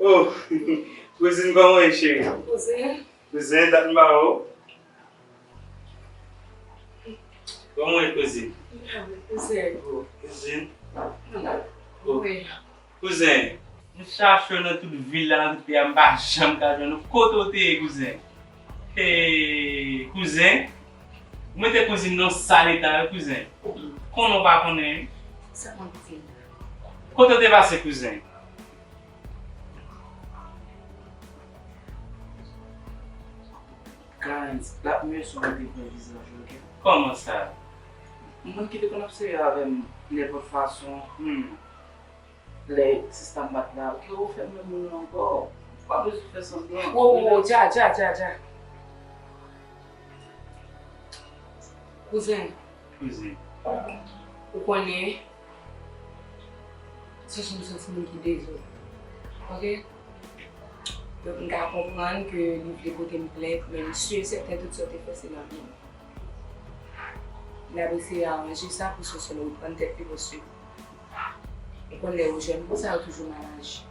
Oh kouzin kòman ye cheri. Kouzin. Kouzin dat m pa wè w. Kòman w ye kouzin. Kouzin. Kouzin. Kouzin. M chache w nan tout vil la nan tout peyi a m pa janm ka jwenn ou kote w te ye kouzin. Hee kouzin. Ou mete kouzin nan sal eta wi kouzin. Konnen w pa konnen wi. Sa konn kouzin. Kote w te pase kouzen? Karenns, L ap mye si w mete vrè vizaj ou ok? Kòman sa? Moun ki te konn ap sèvi avè m nenpòt fason, hum, lè sista m pa t la, kè w fè menm moun nan ankò. Ou pa bezwen fè sanblan. Wo wo wo, dja dja dja dja. Kouzen. Kouzen. Ou konnen. Sou sou sou sou moun ki dezod. Ok. Donk m ka konprann ke li vle pote m plent men m sur et certain tout sa w te fè se nan vi m. N ap eseye aranje sa pou Soso reprann tèt li paske ou konn lè yo jèn konsa yo toujou mal aji.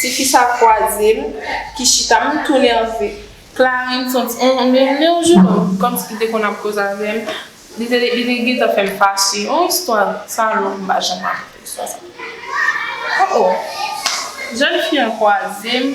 Ti fi sa kwaze m ki chita m tou nève. Clarens son ti on yon jounòm kòmsi li te konn ap koze avè m. Li te li te gentan fè m fache. On istwa salop m pa janm rakonte istwa sa. O o! Jèn fi an kwaze m.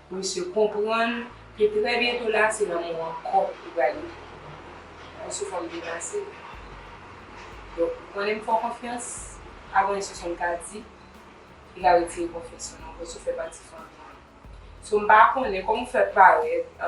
Misye konprann ke trè byento la se lanmou an kò li pral rive. An sou fòm devase. Donk ou konnen m fè w konfyans, avan yon seksyon m ka di, li ka retire konfyans ou nan m paske w fè pati fanmi an. So m pa konnen kòman w fè parèt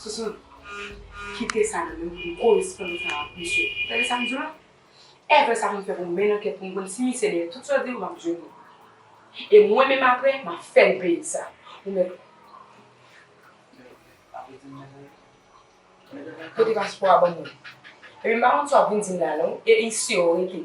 Sousoun kite sa nan menm pou m koresponn ansanm ak misye. Tande sa m di w la? Evre sa pou m fè pou m mennen ankèt pou m konn si misye dèyè tout sa w di m, m ap jwenn li. E mwen menm apre, m ap fè l peye sa. Ou mèt ou. Pote paspò a ban mwen. Epi m pa konn sa w vin di m la non. E isye w rete.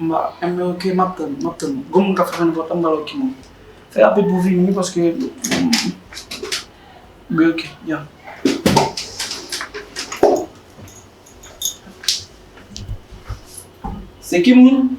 M ba M nan ok map tann map tann ou. Gon moun kap fè sa nenpòt tan m ba l ok moun. Fè rapid pou w vini wi paske m gen ok ya. Se ki moun?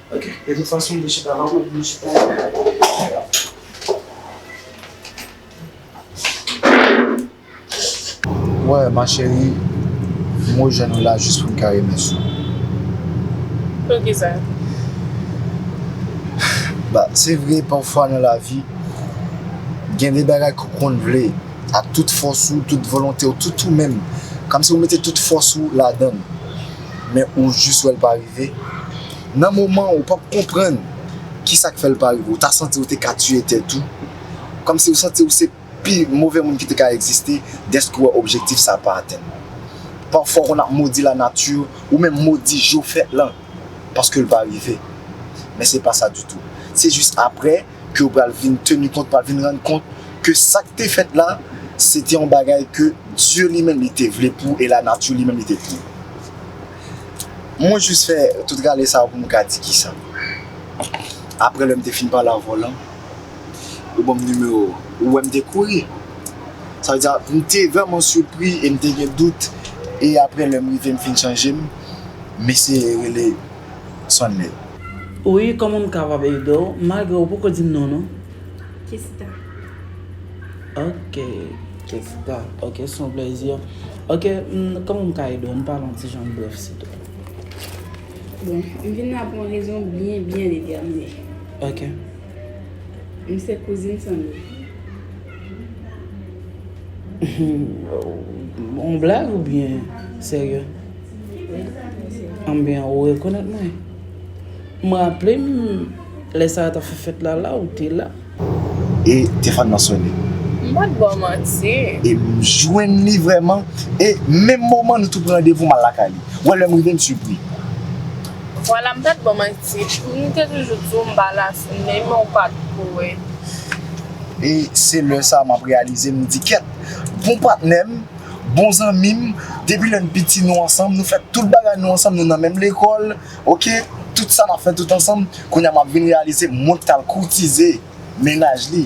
Ok de tout fason m te chita nan ou m chita nan ou. Wè ma chérie m rejwenn ou la jis pou m ka remèsye w. Poukisa? Ba se vre pafwa nan lavi gen de bagay ke w konn vle ak tout fòs ou, tout volonte w, tout ou menm kòmsi ou mete tout fòs ou ladan l men ou jis wè l pa rive. Nan moman ou pap konprann kisak fèl pa rive ou ta santi ou te ka tiye tèt ou kòmsi ou santi ou se pi move moun ki te ka egziste dèske ou wè objektif sa pa atenn. Pafwa ou konn ap modi la nati ou menm modi jou fèt lan paskel pa rive men se pa sa ditou se jis aprè ke ou pral vin teni kont pral vin rann kont ke sak te fèt la se te yon bagay ke Dye li menm li te vle pou e la nati li menm li te vle. Mwen jis fè tout rale sa yo pou m ka di kisa. Aprè lè m te fin pale ak vòlè an, yo ban m nimewo ou. Ou wè m te kouri. Sa vle di a, m te vrèman sipri e m te gen dout e aprè lè m rive m fin chanje m, m eseye rele Sonley. Wi, kòman m kapab ede w? Malgre ou poko di m non w non. Kessita. Ok Kessita ok se yon plezi ok kòman m ka ede w m pale yon ti jan brèf sitèl. Bon m vin la pou yon rezon byen byen detèmine. Ok. M se kouzin Sandro. Yon blag ou byen serye? Wi m serye. Anben ou rekonèt mwen? M raple m. Lè sa yo tap fè fèt la la ou te la. E tefòn nan sone. M pat baw manti. E m jwenn li vrèman. E menm moman nou tou pran randevou m al lakay li. Ou wè lè m rive m sipri. Vwala m pat baw manti. M te toujou di w m pa la sone men w pat kwe. E se lè sa map reyalize m di kèt. Bon patnè m, bon zanmi m, depi lè n piti nou ansanm, nou fè tout bagay nou ansanm, nou nan menm lekòl. Ok tout sa nap fè tout ansanm kounya map vin reyalize mwen ki tal koutize mennaj li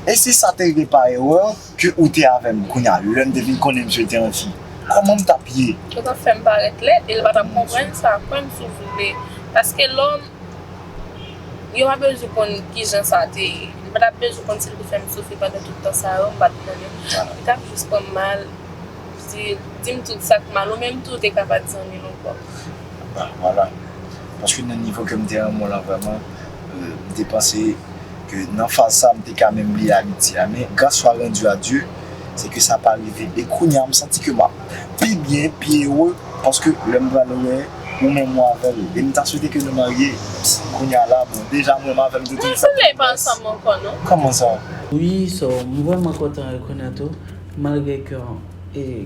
e si sa te rive pa erè ke ou te avèm kounya lèm te vin konnen misye te anti kòmanm tap ye. Yo tap fèm parèt lèd e yo patap konprann sa kòm sou vle paske lòm yo pa bezwen konn kijan sa te ye yo patap bezwen konn sil te fèm soufri pandan tout tan sa yo mpat konnen li tap jis pranm mal dim tout sak mal ou menm tou ou te ka pat zanmil ankò. Vwala. Paske nan nivo ke m te renmen w lan vrèman, m te panse ke nan faz sa a, m te ka menm bliye amitye a. Men, gras swa randu a Dye, se ke sa pa rive. E kounye a, m santi ke m ap pi byen, pi ere, paske lè m pral wè ou menm ou avè l. E m ta swete ke nou marye. Kounye a la, bon, deja mwen m avè l nou te sanble. Nou pa ansanm ankò non. Kòman sa? Wi, so, m vrèman kontan rekonèt ou, malgre ke, e.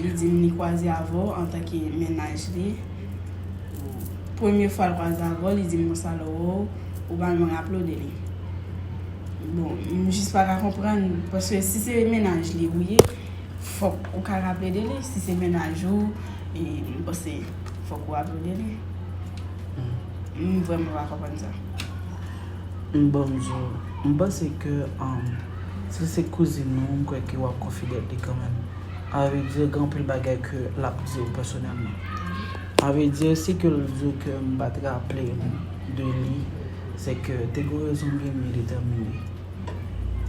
Li di m li kwaze avè w antanke mennaj li. Premye fwa l kwaze avè w, li di m konsa lè w wè w, ou pa janm raple w de li. Bon, m jis pa ka konprann, paske si se mennaj li ou ye, fòk ou ka raple de li. Si se mennaj ou, m panse fòk ou raple w de li. M vrèman pa konprann sa. M banm di w, m panse ke si se kouzin ou, m kwè ke w ap konfidèt li kanmenm. A vre di, gen anpil bagay ke l ap di w pèsonèlman. A vre di, si ke l di w ke m pa t raple m de li, se ke te gen rezon m gen m byen detèmine.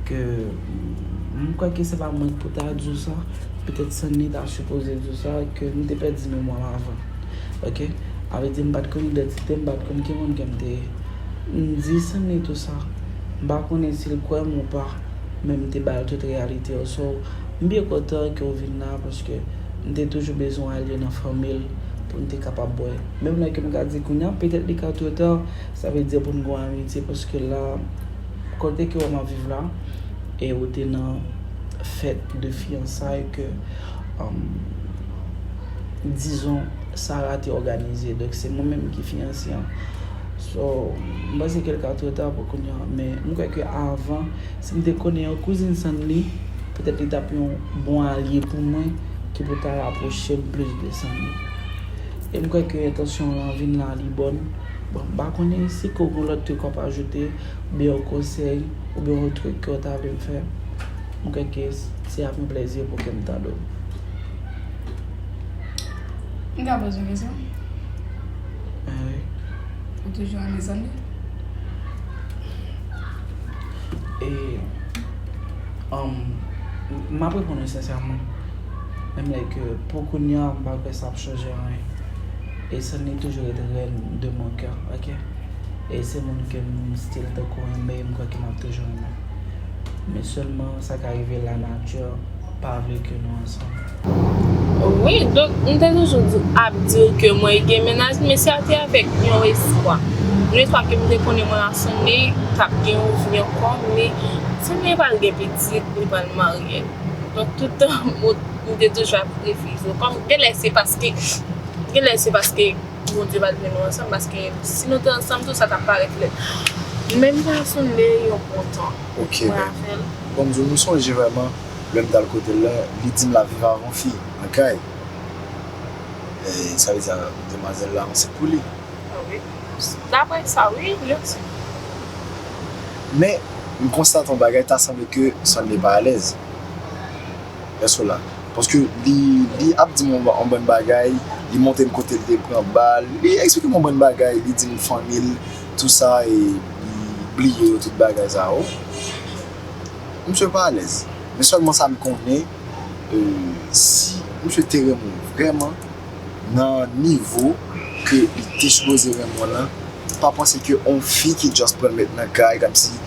Ke m kwè ke se pa mwen ki pou ta di w sa. Petèt Sanni ta sipoze di w sa ke m te pèdi memwa m avan. Ok. A vle di m pa t konn idantite m, m pa t konn ki moun ke m te ye. M di Sanni tou sa. M pa konnen si l kwè m ou pa, men m te ba l tout reyalite yo. So, m byen kontan ke w vin la paske m te toujou bezwen ale nan fanmi l pou n te kapab wè. Menm lè ke m ka di kounye a petèt li ka two ta, sa vle di pou n gen yon amitye paske la. Kote ke ou map viv la e ou te nan fèt de fiyansay ke dizon Sara te òganize donk se mwen menm ki fiyanse an so m panse ke li ka two ta pou kounya men m kwè ke avan si m te konnen yon kouzin sann li petèt li tap yon bon alye pou mwen ki pou ta rapwoche m plis de sann li e m kwè ke entansyon lan vin la li bòn. Bon, m pa konnen si ke w gen lòt truk w ap ajoute, oubyen yon konsèy, oubyen yon truk ke w ta vle m fè, m kwè ke se avk yon plezi pou ke m tande w. M ka poze w kesyon? Ben wi. Ou toujou an mezanmi? E, um, m ap reponn w sensèman, menm lè ke pou kounya m pa kwè sa ap chanje anyen. E Sunny toujou ret reine de mon cœur ok e se moun kem still tankou renmen e m kwè ke map toujou renmen men selman sa ka rive la nature pa vle ke nou ansanm. Wi donk m te toujou di ap di w ke mwen gen mennaj men sa te avèk yon espwa yon espwa ke m te konnen mwen a Sunny tap gen yon vi ankò men Sunny pral gen pitit li pral marye donk tout tan m te toujou ap refize w kòm genlè se paske Genlè se paske Bondye pa t vle nou ansanm paske si nou te ansanm tout sa tap parèt lèd. Men m ta sonde yon bon tan. Ok baby. Bon m di w m sonje vrèman lè m t al kote l lan li di m lap viv avon fi nan kay. Sa vle di demwazèl la ansent pou li. Wi. Daprè sa wi yo di. Men m konstate yon bagay ta sanble ke Sunday pa alèz. Èske w la? Paske li, li ap di m yon, yon bann bagay, li montre m kote l te pran bal, li eksplike m yon bann bagay, li di m fanmi l, tou sa e li bliye yo tout bagay sa yo. Misye pa alèz. Men sèlman sa m konnen, si misye te renmen w vrèman, nan nivo ke li te sipoze renmen w lan, pa panse ke yon fi ki just pran l met nan kay, kòmsi,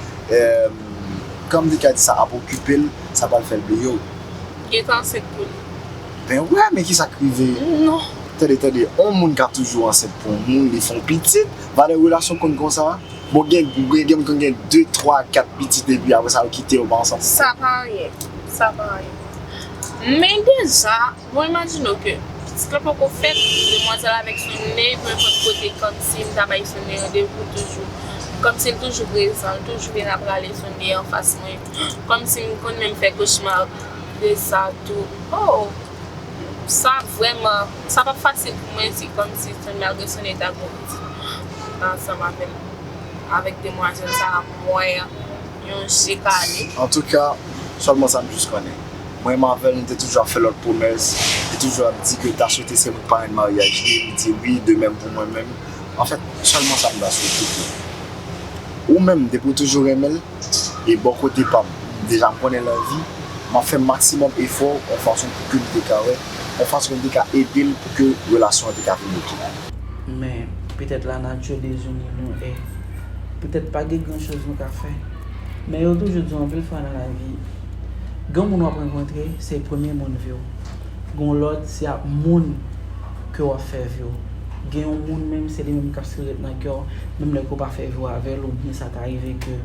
Kan li ka di sa ap okipe l sa pral fè l bliye w. Gen tan ansent pou li. Ben wè men kisa k rive. Non. Tande tande on moun ka toujou ansent pou on moun li fè on pitit valè relasyon konn konsa bon gen gen moun konn gen 2 3 4 pitit epi aprè sa yo kite yo pa ansanm. Sa pa anyen sa pa anyen men deja Mwen imajine w ke pitit la poko fèt, demwazèl avèk Souney pou nenpòt kote kòmsi m ta bay Souney randevou toujou, kòmsi l toujou prezan, l toujou vin ap rale Souney anfas mwen, kòmsi m konn menm fè kochma de sa tou. O! Sa vrèman, sa p ap fasil pou mwen di kòmsi Souney, malgre Souney ta gwo pitit ansanm avè m, avèk demwazèl sa a, m wè yon je kale. Antouka, sèlman sa m jis konnen. Mwen menm avèl nou te toujou ap fè lòt pwomès, li toujou ap di ke l ta swete se mwen k parenn maryaj li, li di wi, de mèm pou mwen menm. Anfèt, sèlman sa m ta swete pou ou, ou menm depi w toujou renmen l, e bò kote pa m, deja m konnen l anvi, m ap fè maksimòm efò yon fason pou ke m te ka wè, yon fason m te ka ede l pou ke relasyon an te ka vin ok. Men, petèt lanati bezwen li nou e petèt pa gen gran choz nou ka fè. Men yo toujou diw anpil fwa nan lavi gen moun wap rankontre se premye moun viw gon lòt se ak moun ke wap fè viw gen yon moun menm se li menm kap stil ret nan kèw menm lè ke ou pa fè viw avèl ou byen sa ta rive ke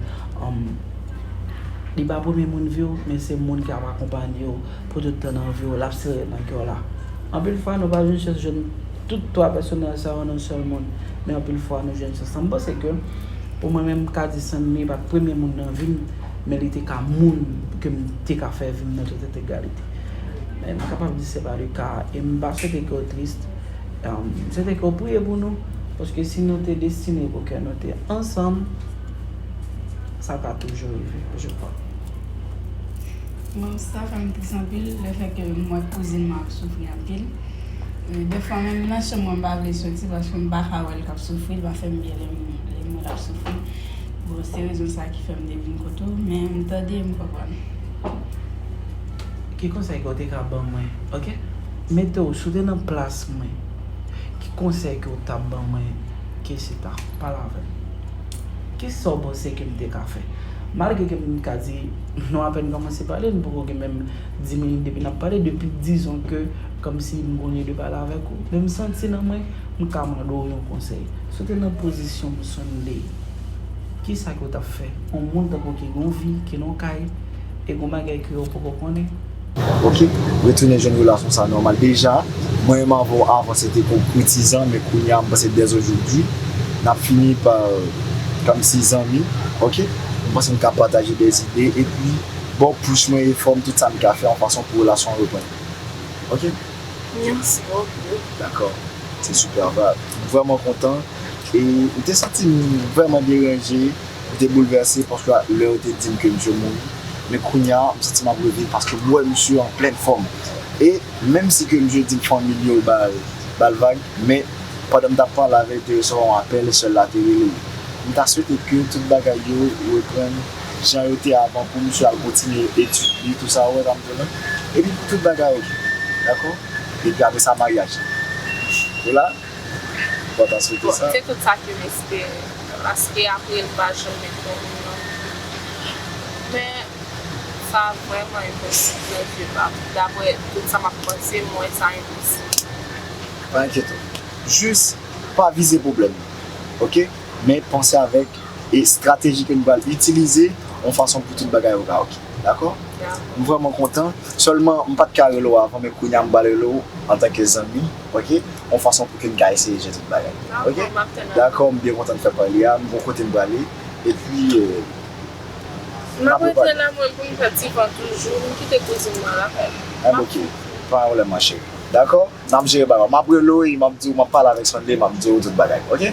li pa premye moun viw men se moun kap akonpanyew Pou tout tan nan vi w, l ap sere nan kè w la. Anpil fwa, nou pa jwenn chans jwenn tout twa pèsonaj sa yo nan yon sèl moun, men anpil fwa nou jwenn chans sa. M panse ke pou mwen menm, m ka di Sanmi pa t premye moun nan vi m, men li te ka moun ke m te ka fè vi m nan tout entegralite. Men m kapab di se pa le ka a. E m pa swete ke w tris. M swete ke w priye pou nou, paske si nou te destine pou ke nou te ansanm, sa ta toujou rive, je kwa. Mwen sa fè m tris anpil le fè ke m wè kouzin mwen ap soufri anpil. De fwa menm nan chanm mwen m pa vle soti paske m pa ka wè l k ap soufri, l pa fè m byen lè m wè l ap soufri. Bon se rezon sa ki fè m te vin kote w men m tande m konprann. Ki konsèy ke w te ka ban mwen? Ok. Mete w, si w te nan plas mwen, ki konsèy ke w t ap ban mwen? Kessy ta, pale avè m. Ki sa w panse ke m te ka fè? Malgre ke m ka di nou apèn kòmanse pale, nou poko gen menm 10 minit depi n ap pale, depi dizon ke kòmsi m konye de pale avèk ou, men m santi nan mwen, m ka mande w yon konsèy. Si w te nan pozisyon m Sunday, ki sa ke w t ap fè? Yon moun tankou w ki gen yon vi, ki nan yon kay, e gen yon bagay ke ou poko konnen. Ok retounen jwenn relasyon sa nòmal deja mwen menm avè w avan se te pou koutizan men kounya mwen panse dès aujourd'hui nap fini pa kòmsi zanmi ok mwen panse nou ka pataje des idées epi ba w pous mwen efò m tout sa m ka fè yon fason pou relasyon an reprann ok merci beaucoup dakò se super vibe m vrèman kontan e m te santi m vrèman deranje. M te boulvèse paske lè yo te di m ke misye mouri, men kounya m santi m ap reviv paske m wè misye an plen fòm e menm si ke misye di m fanmi l yo ba l vag men pandan m t ap pale avè l te resevwa yon apèl sè l la te rele l. M ta swete ke tout bagay yo reprann jan yo te avan pou misye al kontinye etid li tou sa ou wè sa m di w la epi pou tout bagay ok dakò epi apresa maryaj la. Mpa ta swete sa. Bon se tout sa kem espere. Paske apre li pa janm met yon moun nan fim. Men sa vrèman enposib nan zye pam. Daprè tout sa map panse m wè sa enposib. Pa enkyete w. Jis pa vize pwoblèm nan. Ok. Men panse avèk estrateji ke nou pral itilize yon fason pou tout bagay yo ka ok. Dakò? Dakò. M vrèman kontan. Sèlman m pat ka rele w avan men kounya m pral rele w antanke zanmi. ok yon fason pou ke n ka eseye jere tout bagay ok dakò m byen kontan n fè pale a m gon kote m prale epi n ap repale m ap rete la mwen pou m fè ti van toujou m kite kouzin mwen lakay m enben ok pa yon pwoblèm ma cheri dakò n ap jere bagay yo m ap rele w e m ap di w m ap pale avèk Sunday m ap di w tout bagay ok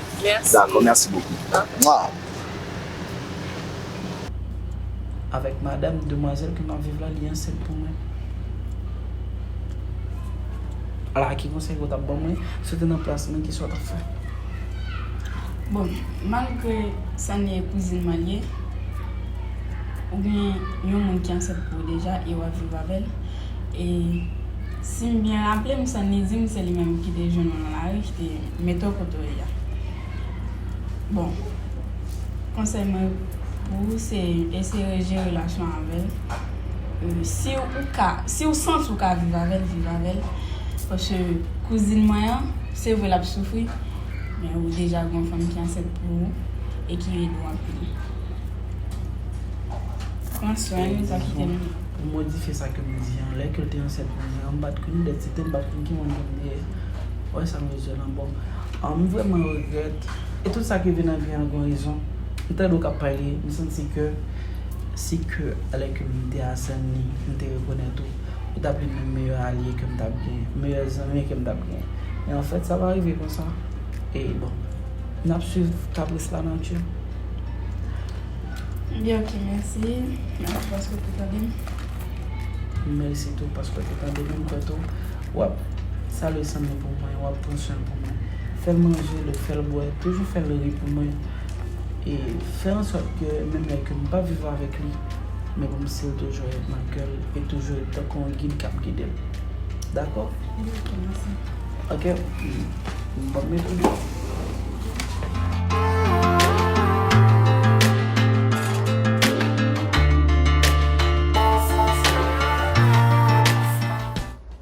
dakò mèsi bokou mwah. Avèk madam demwazèl ke map viv la li ansent pou mwen. Ala ki konsèy ke w tap ban mwen si w te nan plas mwen kisa w tap fè? Bon, malgre Sanie kouzin mwen li ye, ou gen yon moun ki ansent pou ou deja e wap viv avèl, e sim byen raplem Sanie dim se li menm ki te jwenn ou nan lari ki te mete w kote w ye a. Bon, konsèy mwen pou ou se eseye rejere relasyon an avèl. Si ou ka, si ou santi ou ka viv avèl, viv avèl. Pòske kouzin mwen an, se vre lap soufri, men ou deja gen yon fanm ki ansent pou ou e ki rele ou anpil. Pran swen li, pa kite li. Pou modifye sa kem di an, lè kel te ansent pou mwen an, m pat konn dèt, se tem pat konn ki moun kem te ye. Wè sa m bezwen lan bon. Aww m vreman regrèt e tout sa ki vin nan vi an gon rezon m tande w kap pale m santi ke si ke lè ke m te a Senlin m te rekonèt ou ou tap youn nan meyè alye ke m tap gen meyè zanmi ke m tap gen men anfèt sa pa rive konsa e bon nap swiv kapris la nati. Ebyen ok mèsi paske w te tande m. Mèsi tou paske w te tande m m kwè tou wap Salye san mwen pou mwen, wap pran swen pou mwen. Fèl manje, lèw fèl bwè, toujou fèl ri pou mwen. E fè ansòt ke menm lè ke m pa viv avèk li, men pou m sil toujou ret nan kèl e toujou ret tankou yon gid kap gidel. Dakò? Dakò, mèsi. Ok, m pap mete m.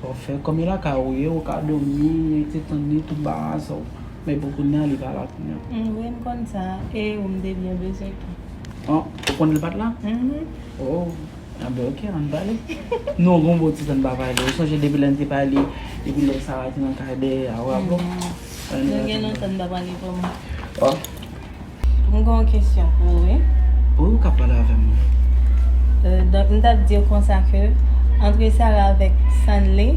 Saw fè kòm e lakay ou ye ou ka domi rete tann li tout bagay sa ou men pou kounya li pa la kounya. M wi m konn sa e ou m te byen bezwen tou. Oh ou konnen l pat la? Mph oh anben ok ann pale non gon bon ti tan n pa pale ou sonje depi lè n te pale depi lè Sara te nan kay dèyè a ou raple w? Nou gen lontan n pa pale vrèman. Oh. M gen yon kesyon pou ou wi. Wi ou ka pale avèm wi. Donk m tap diw konsa ke antre Sarah avèk Sanley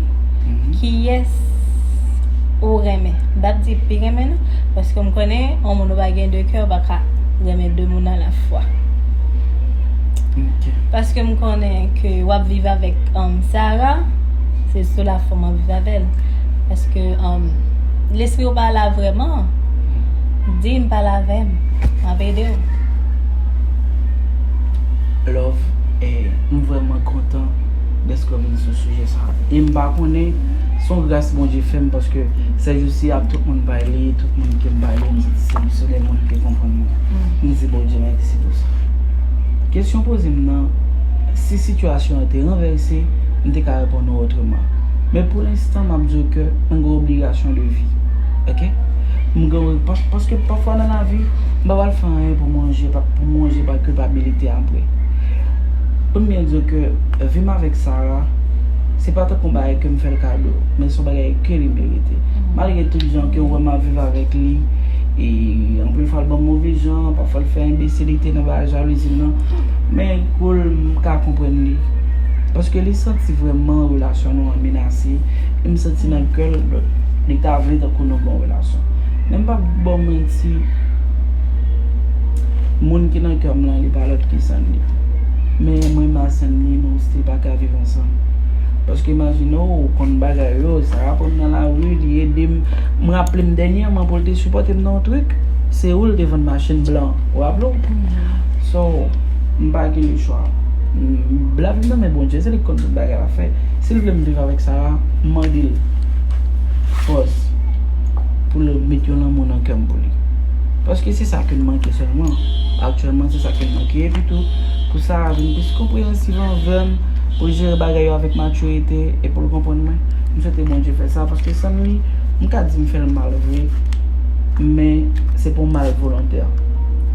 kiyès ou renmen. M pap di pi renmen non paske m konnen yon moun ou pa gen 2 kè ou paka renmen 2 moun a la fwa. Paske m konnen ke wap viv avèk Sarah se sou la fòm wap viv avèl paske lespri ou pa la vrèman. Dim pale avem map edew. Love eh m vrèman kontan dèske w vin sou sijè sa e m pa konnen s on gras Bondye fè m paske sèjousi ak tout moun m pale, tout moun ke m pale m santi se se de moun ki konprann mwen. M di Bondye mèsi pou sa. Kesyon w poze m nan, si sitiyasyon an te ranvèse, m te ka reponn ou otreman. Men pou lenstan m ap di w ke m gen obligasyon de vi. Ok M gen yon Paske pafwa nan lavi m pa pral fè anyen pou manje Pou manje pa kilpabilite apre Pou m byen di w ke vi m avèk Sara Se pa tankou yon bagay ke m fè l kado Men se yon bagay ke li merite Malgre tout jan ke w wè m ap viv avèk li E anpil fwa l ban m move jan Pafwa l fè enbesilite nan bagay jalouzi l lan Men kou l m ka konprann li Paske li santi vrèman relasyon nou an menase M santi nan kè l li ta vle tankou nou gen yon relasyon. Men m p ap ba w manti, moun ki nan kè m lan li pa lòt ki Sann li. Men mwen m a Sann li nou stil pa ka viv ansanm. Paske imajine w ou konn bagay yo, sa rapò m nan lari, li ede m. M raple m dènyèman pou l te sipòte m nan yon trik, se ou l te vann machin blan an. Ou raple w? So, m pa gen lechwa. Lavi m nan men Bondye, se li ki konn tout bagay l ap fè. Sil vle m viv avèk Sara m mandel fòs poul met yon lanmou nan kèm pou li paske se sa kem manke sèlman aktyèlman se sa kem manke epi tou pou Sara vin plis konpreyansiv anvèm poul jere bagay yo avèk matirite e poul konprann mwen m swete Bondye fè sa paske san li m ka di m fèl mal vre men se pou mal volontè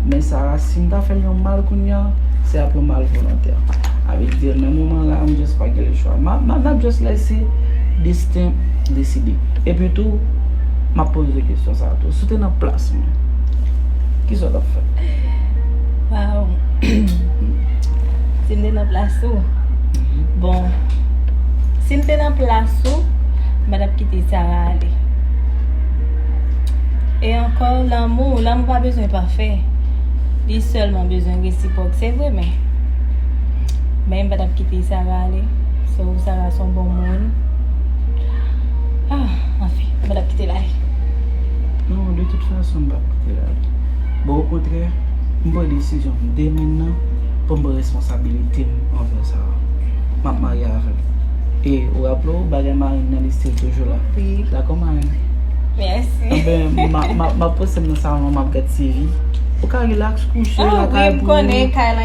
men Sara sim ta fèl yon mal kounya se ap yon mal volontè. avèk Dyel men moman la m just pa gen le chwa map just lèse desten deside epi tou map poze kesyon sa tou si w te nan plas mwen kisa w tap fè waw si m te nan plas ou bon si m te nan plas ou m pa tap kite Sarah ale e ankò lanmou lanmou pa bezwen pafè li sèlman bezwen resipwòk se vre men Men m pa tap kite Sara ale So Sara son bon moun Anfen m pa tap kite l ale Non de tout fason m pap kite l ale Bon o kontrè m pran desizyon m de men nan Pou m pran responsabilite m anvè Sara M ap marye avè l E ou raple w bagay marenn nan li stil toujou la Dakò marenn? Mèsi Anben m ap pouse m nan salon an m ap gad TV Ou ka relax kouche lakay pou ou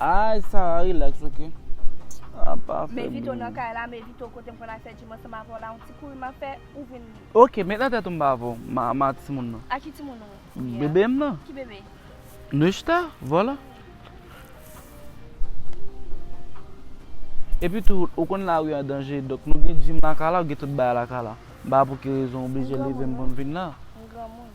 Ayy Sarah relax ok Ahh pa fèm Men Vito nan kay la men Vito kotem konn al fè gym ansanm avè w la yon ti kouri map fè ou vin Ok met nan tèt ou m pa avè w m a timoun nan A ki timoun ou ye a Bebe m nan Ki bebe? Neushta Vòlò Epi tou ou konn lari an danje donk nou gen gym lakay la ou gen tout bagay lakay la m pa wè pou ki rezon ou oblije leve m pou m vin la M granmoun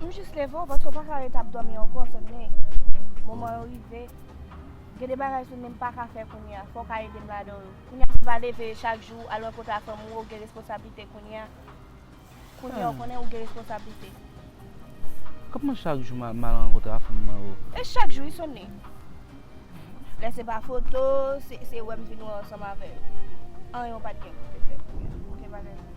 M jis leve w paske w paka ret ap dòmi ankò Sunday moman yo rive gen de bagay Sunday m paka fè kounya fò w ka ede m ladan l kounya se pa leve chak jou al rankontre ak fanmi w ou gen responsablite kounya kounya w konnen ou gen responsablite Kman chak jou m al rankontre ak fanmi mwen oo E chak jou wi Sunday lè se pa foto se wè m vin wè ansanm avè yo anyen w pat gen pou w te fè pou mwen ok bagay sa.